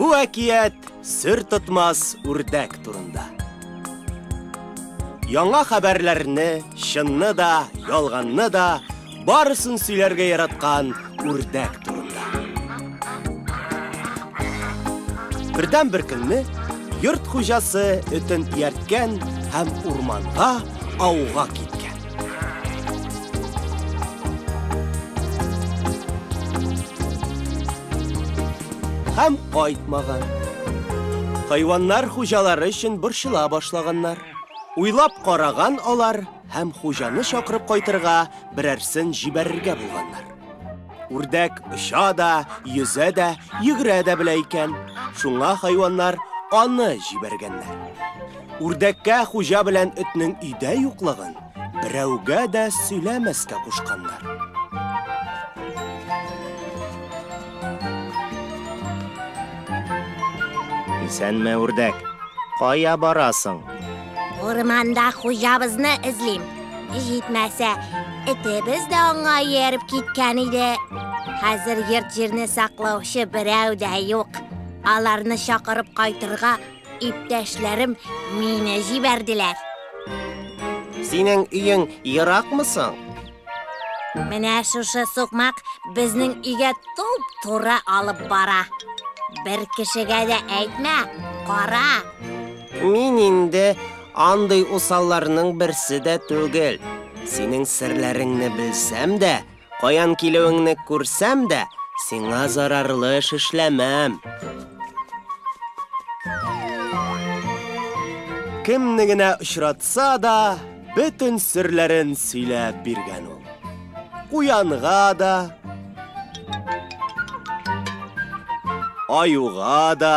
Бу әкият сер тотмас үрдәк турында. Яңа хәбәрләрне, чынны да, ялганны да, барысын сөйләргә яраткан үрдәк турында. Бердән бер көнне йорт хуҗасы өтен иярткән һәм урманга ауга киткән. Һәм кайтмаган. Хайваннар хуҗалары өчен борчыла башлаганнар. Уйлап караган алар һәм хуҗаны чакырып кайтырга берәрсен җибәрергә булганнар. Үрдәк оча да, йөзә дә, йөгерә дә белә икән. Шуңа хайваннар аны җибәргәннәр. Үрдәккә хуҗа белән этнең өйдә юклыгын берәүгә дә сөйләмәскә кушканнар. Исәнме, үрдәк? Кая барасың? Урманда хуҗабызны эзлим. Җитмәсә, этебез дә аңа ияреп киткән иде. Хәзер йорт җирне саклаучы берәү дә юк. Аларны чакырып кайтырга иптәшләрем мине җибәрделәр. Синең өең еракмы соң? Менә шушы сукмак безнең өйгә туп-туры алып бара. Бер кешегә дә әйтмә, кара. Мин инде андый усалларның берсе дә түгел. Синең серләреңне белсәм дә, каян килүеңне күрсәм дә, сиңа зарарлы эш эшләмәм. Кемне генә очратса да, бөтен серләрен сөйләп биргән ул. Куянга да, аюга да,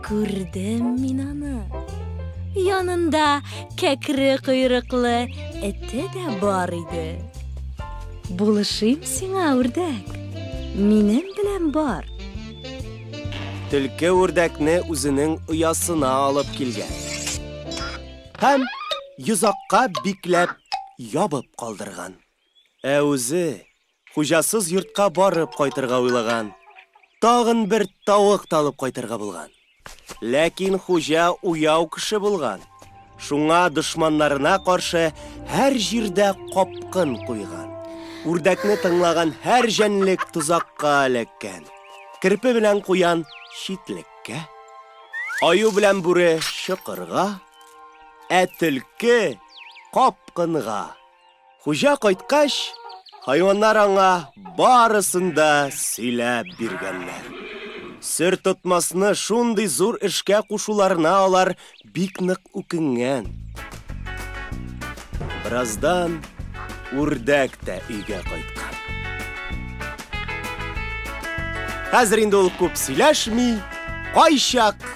Күрдем мин аны. Янында кәкре койрыклы эте дә бар иде. Булышыйм сиңа, үрдәк. Минем белән бар. Төлке үрдәкне үзенең оясына алып килгән. Һәм йозакка бикләп ябып калдырган. Ә үзе хуҗасыз йортка барып кайтырга уйлаган. Тагын бер тавык та алып кайтырга булган. Ләкин хуҗа уяу кеше булган. Шуңа дошманнарына каршы һәр җирдә капкын куйган. Үрдәкне тыңлаган һәр җәнлек тозакка эләккән. Керпе белән куян читлеккә, аю белән бүре чокырга, ә төлке капкынга. Хуҗа кайткач, хайваннар аңа барысын да сөйләп биргәннәр. Сер тотмасны шундый зур эшкә кушуларына алар бик нык үкенгән. Бераздан үрдәк тә өйгә кайткан. Хәзер инде ул күп сөйләшми, кайчак